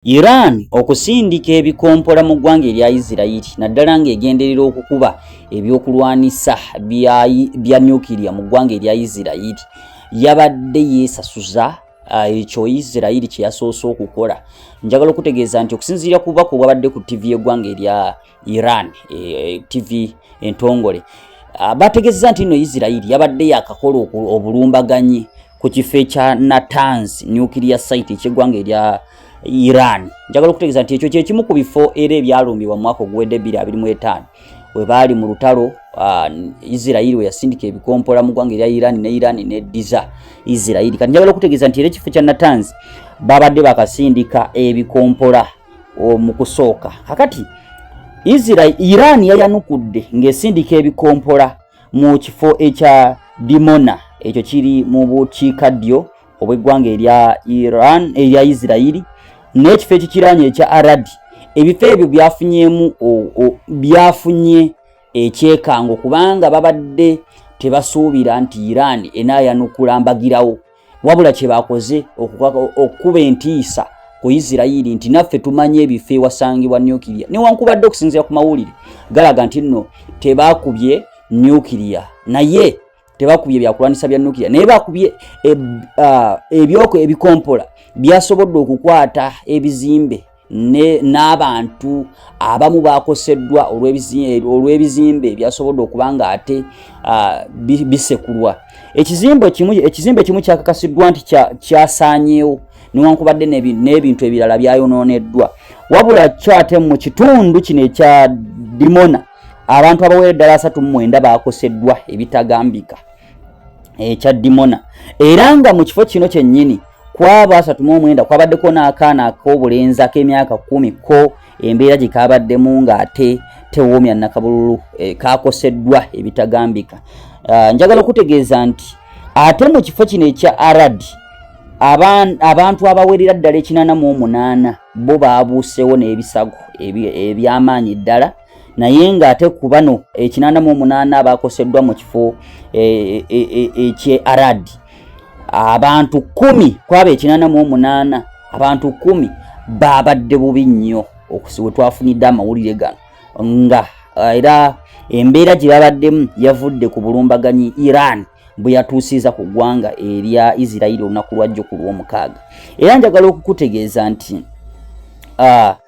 Iran okusindika ebikompola mu ggwanga erya Isirayiri naddala ng'egenderera okukuba ebyokulwanisa bya nyukiriya mu ggwanga erya Isirayiri yabadde yeesasuza uh, ekyo Isirayiri kye yasoose okukola. Njagala okutegeeza nti okusinziira ku bubaka obwabadde ku ttivi y'eggwanga erya Iran e, e, TV entongole ah, bategezeza nti no Israel yabadde yakakola obulumbaganyi ku kifo ekya Natanz nuclear site ekyegwanga erya Iran. Njagala okutegeza nti ekyo kye kimu ku bifo era ebyalumbibwa mu mwaka oguwedde 2025 we baali mu lutalo ah, Israel we yasindika ebikompola mu ggwanga erya Iran ne Iran ne Diza Israel. Kati njagala okutegeza nti era ekifo kya Natanz babadde bakasindika ebikompola mu kusooka kakati israel iran yayanukudde ng'esindika ebikompola mu kifo ekya dimona ekyo kiri mu bukiika ddyo obw'eggwanga erya iran erya israeli n'ekifo ekikiranye ekya aradi ebifo ebyo byafunyemu byafunye ekyekango kubanga babadde tebasuubira nti iran enaayanukula mbagirawo wabula kye bakoze okukuba entiisa ku isirairi nti naffe tumanyi ebifo ewasangibwa nukiria newankubadde okusinzira ku mawulire galaga nti nno tebakubye nukiria naye tebakubye ebyakulwanyisa bya nukiria naye bakubye ebyoko ebikompola byasobodde okukwata ebizimbe n'abantu abamu bakoseddwa olw'ebizimbe ebyasobodde okuba nga ate bisekulwa ekizimbe kimu kyakakasiddwa nti kyasaanyewo newankubadde n'ebintu ebirala byayonooneddwa wabula kyo ate mu kitundu kino ekya dimona abantu abawera eddala asatu mu mwenda bakoseddwa ebitagambika ekya dimona era nga mu kifo kino kyennyini Ku abo asatu mu omwenda kwabaddeko n'akaana ak'obulenzi ak'emyaka kkumi ko embeera gye kaabaddemu ng'ate tewoomya nakabululu eh, kaakoseddwa ebitagambika. Uh, njagala okutegeeza nti ate mu kifo kino ekya arad abantu abawerera ddala ekinana mu omunaana bo baabuusewo n'ebisago eby'amaanyi ddala naye nga ate ku bano ekinana mu omunaana abakoseddwa mu kifo eh, eh, eh, ekye arad abantu kumi kwaba ekinana mu omunaana abantu kumi babadde bubi nnyo okusiwe twafunidde amawulire gano nga era embeera gye babaddemu yavudde ku bulumbaganyi iran bwe yatuusiza ku ggwanga erya isirairi olunaku lwajjo ku lw'omukaaga era njagala okukutegeeza nti ah,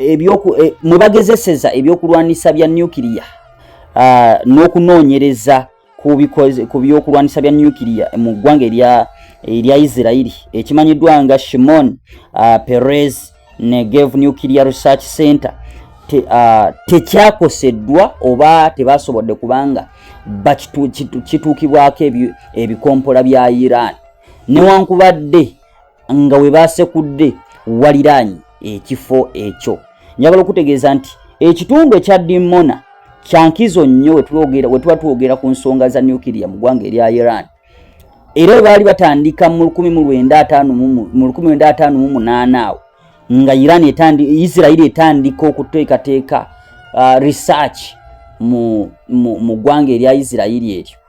e, e, mwe bagezeseza ebyokulwanyisa bya nuclear n'okunoonyereza ku byokulwanyisa bya nuclear mu ggwanga erya isirairi ekimanyiddwa nga shimon perez negev nuclear research center tekyakoseddwa oba tebasobodde kubanga bakituukibwako ebikompola bya iran newankubadde nga we baasekudde waliraanyi ekifo ekyo njagala okutegeeza nti ekitundu ekya dimona kyankizo nnyo wetuba twogera ku nsonga za nukiria mu ggwanga erya iran era webaali batandika mu 1958 awo nga iran isirairi etandika okuteekateeka uh, research mu ggwanga erya isirairi eryo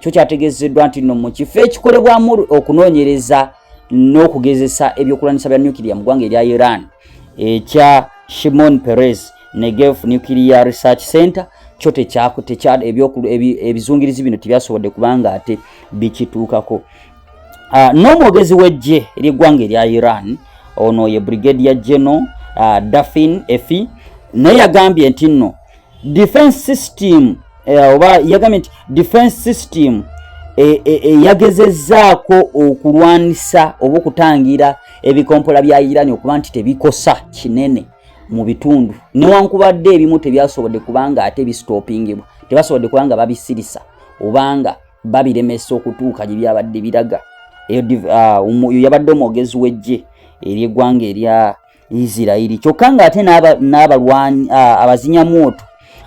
kyo kyategezeddwa nti no mu kifo ekikolebwamu okunoonyereza n'okugezesa ebyokulwanyisa bya nuclear mu ggwanga erya iran ekya shimon perez negev nuclear research center kyo ebyebizungirizi bino tebyasobodde kubanga ate bikituukako ah, n'omwogezi w'eggye ery'eggwanga erya iran ono ye brigade ya geno ah, dafin efi naye yagambye nti nno defense system eh, oba yagambye nti defense system eyagezezzaako e, e, okulwanisa oba okutangira ebikompola bya irani okuba nti tebikosa kinene mu bitundu newankubadde ebimu tebyasobodde kubanga ate bisitopingibwa tebasobodde kubanga babisirisa obanga babiremesa okutuuka gye byabadde biraga eyo ah, yabadde omwogezi w'eggye ery'eggwanga erya isirairi kyokka ng'ate n'abalwani abazinya mwoto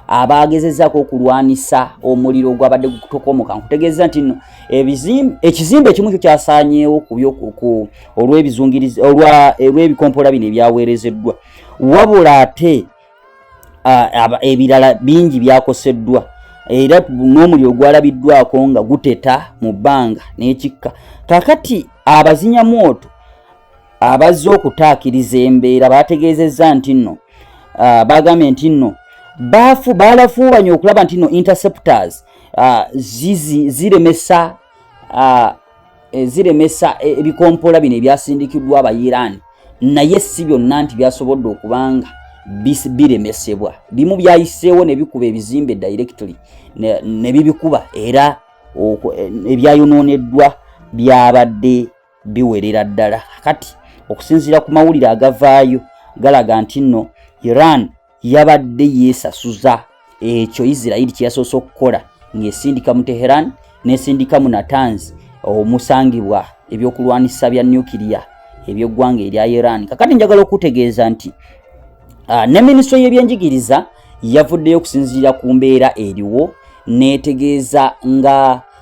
abaagezezaako okulwanisa omuliro ogwabadde gutokomoka nkutegeeza nti no ekizimbe ekimu kyo kyasaanyeewo kubyoku olw'ebizungirizi olw'ebikompola bino ebyaweerezeddwa wabula ate ebirala bingi byakoseddwa era n'omuliro ogwalabiddwako nga guteta mu bbanga n'ekikka kakati abazinya mwoto abazze okutaakiriza embeera baategeezezza nti nno uh, baagambye nti nno baafu baalafuubanye okulaba nti nno interceptors uh, zizi ziremesa uh, eh, ziremesa e, ebikompola bino ebyasindikiddwa abayiraani naye si byonna nti byasobodde okubanga biremesebwa bimu byayiseewo ne bikuba ebizimbe directly ne bibikuba era eh, ebyayonooneddwa byabadde biwerera ddala kati okusinziira ku mawulire agavaayo galaga nti nno iran yabadde yeesasuza ekyo isirairi kye yasoose okukola ng'esindika mu teheran n'esindika mu natanzi omusangibwa ebyokulwanyisa bya nuclear ebyeggwanga erya iran kakati njagala okutegeeza nti ah, ne minisitule y'ebyenjigiriza yavuddeyo okusinziira ku mbeera eriwo n'etegeeza nga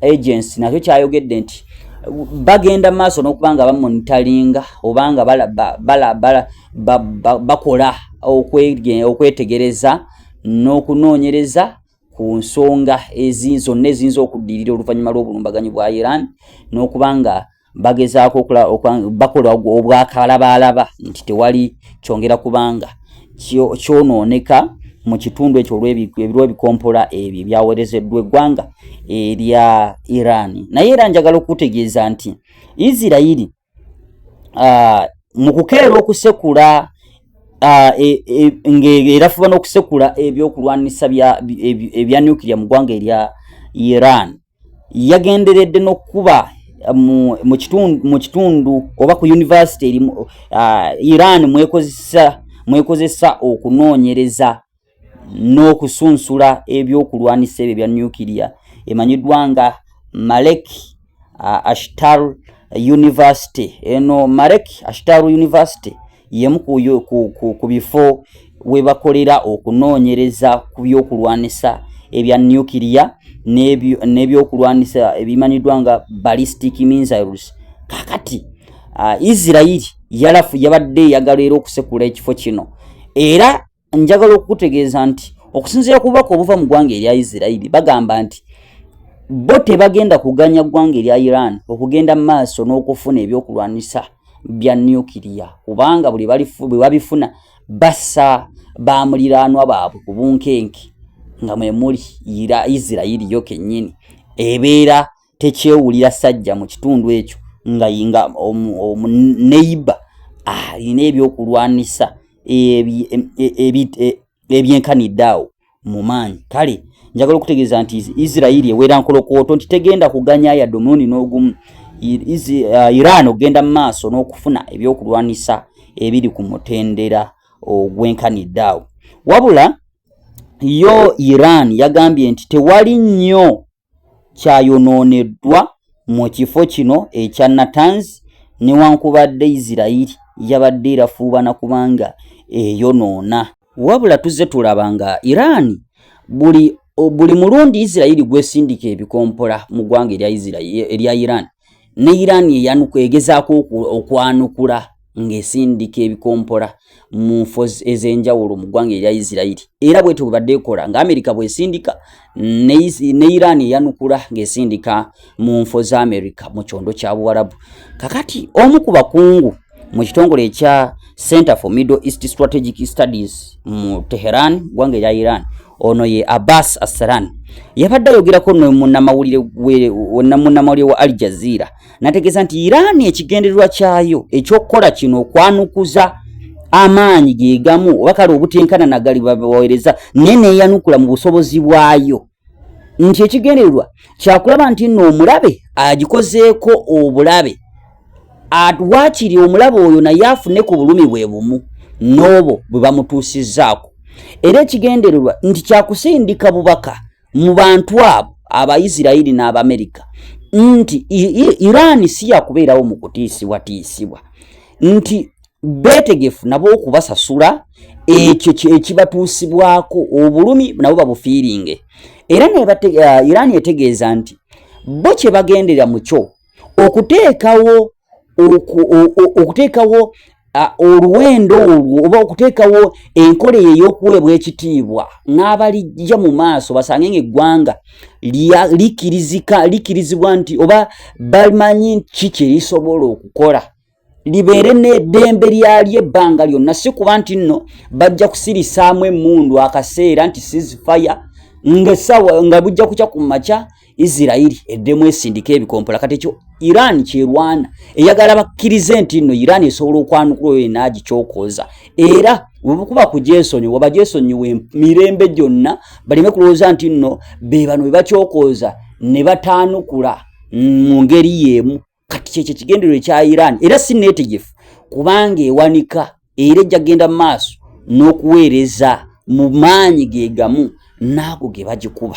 agency nakyo kyayogedde nti bagenda maaso n'okuba nga bamonitalinga oba nga bakola okwetegereza n'okunoonyereza ku nsonga zonna eziyinza okuddirira oluvannyuma lw'obulumbaganyi bwa iran n'okuba nga bagezaako bakola obwakalabaalaba nti tewali kyongera kubanga kyonooneka mu kitundu ekyo olwebikompola ebyo ebyaweerezeddwa eggwanga erya iran naye era njagala okutegeeza nti isirairi ah, mu kukeera okusekula Ah, e, e, ng'erafuba n'okusekula ebyokulwanisa ebya nuclear mu ggwanga erya iran yagenderedde n'okukuba mu, mu, kitundu, mu kitundu oba ku yunivasite eri uh, Iran mwekozesa mwekozesa okunoonyereza n'okusunsula ebyokulwanisa ebyo bya nuclear emanyiddwa nga Malek uh, Ashtar University eno Malek Ashtar University yemu ku bifo we bakolera okunoonyereza ku byokulwanisa ebya nuclear n'ebyokulwanisa ebimanyiddwa nga ballistic missiles kakati uh, isirairi yalafu yabadde eyagala era okusekula ekifo kino era njagala okukutegeeza nti okusinziira ku bubaka obuva mu ggwanga erya isirairi bagamba nti bo tebagenda kuganya ggwanga erya iran okugenda mu maaso n'okufuna ebyokulwanyisa bya nukiriya kubanga buli bwe babifuna bassa ba muliraanwa baabwe ku bunkenke nga mwe muli isirairi yo kennyini ebeera tekyewulira sajja mu kitundu ekyo nga yinga omuneiba alina ebyokulwanisa ebyenkanidde awo mu maanyi kale njagala okutegeeza nti isirairi ewera nkolokooto nti tegenda kuganya yadde omulundi n'ogumu uh, iran okugenda mu maaso n'okufuna ebyokulwanisa ebiri ku mutendera ogwenkanidde awo wabula yo iran yagambye nti tewali nnyo kyayonooneddwa mu kifo kino ekya Natanz newankubadde Isirayiri yabadde erafuubana kubanga eyonoona. Wabula tuzze tulaba nga Iran buli buli mulundi Isirayiri gwesindika ebikompola mu ggwanga erya Iran ne Iran eyanuka egezaako okwanukula ng'esindika ebikompola mu nfo ez'enjawulo mu ggwanga erya isirairi era bwetyo bwe badde ekola nga amerika bwesindika ne iran eyanukula ng'esindika mu nfo za amerika mu kyondo kya buwarabu kakati omu ku bakungu mu kitongole ekya center for middle east strategic studies mu teheran ggwanga erya iran ono ye abbas assaran yabadde ayogerako nemunamawulire wa al jazeera nategeeza nti iran ekigendererwa kyayo ekyokukola kino okwanukuza amaanyi gegamu oba kale obutenkana nagali babawereza naye neyanukula mu busobozi bwayo nti ekigendererwa kyakulaba nti nno omulabe agikozeeko obulabe waakiri omulabe oyo naye afune ku bulumi bwe bumu n'obo bwe bamutuusizzaako era ekigendererwa nti kyakusindika bubaka mu bantu abo abaisirairi n'abamerika nti iraani si yakubeerawo mu kutiisibwatiisibwa nti beetegefu nabo okubasasula ekyo ekibatuusibwako obulumi nabo babufiiringe era uh, iraani etegeeza nti bo kye bagendera mu kyo okuteekawo okuteekawo oluwendo olwo oba okuteekawo enkola eyo ey'okuweebwa ekitiibwa n'abalijja mu maaso basange ng'eggwanga likirizika likirizibwa nti oba bamanyi ki kye lisobola okukola libeere n'eddembe lyalyo ebbanga lyonna si kuba nti nno bajja kusirisaamu emmundu akaseera nti sizifaya ng'essaawa nga bujja kukya ku makya isirairi eddemu esindika ebikompola kati ekyo iran kyerwana eyagala bakkirize nti nno iran esobola okwanukula oyo yena agikyokoza era webkuba kujesonyiwa obajesonyiwa mirembe gyonna baleme kulowooza nti nno bebano bebakyokoza ne bataanukula mu ngeri yeemu kati kyekyo ekigendero ekya iran era si netegefu kubanga ewanika era ejja kgenda mu maaso n'okuweereza mu maanyi ge gamu naago ge bagikuba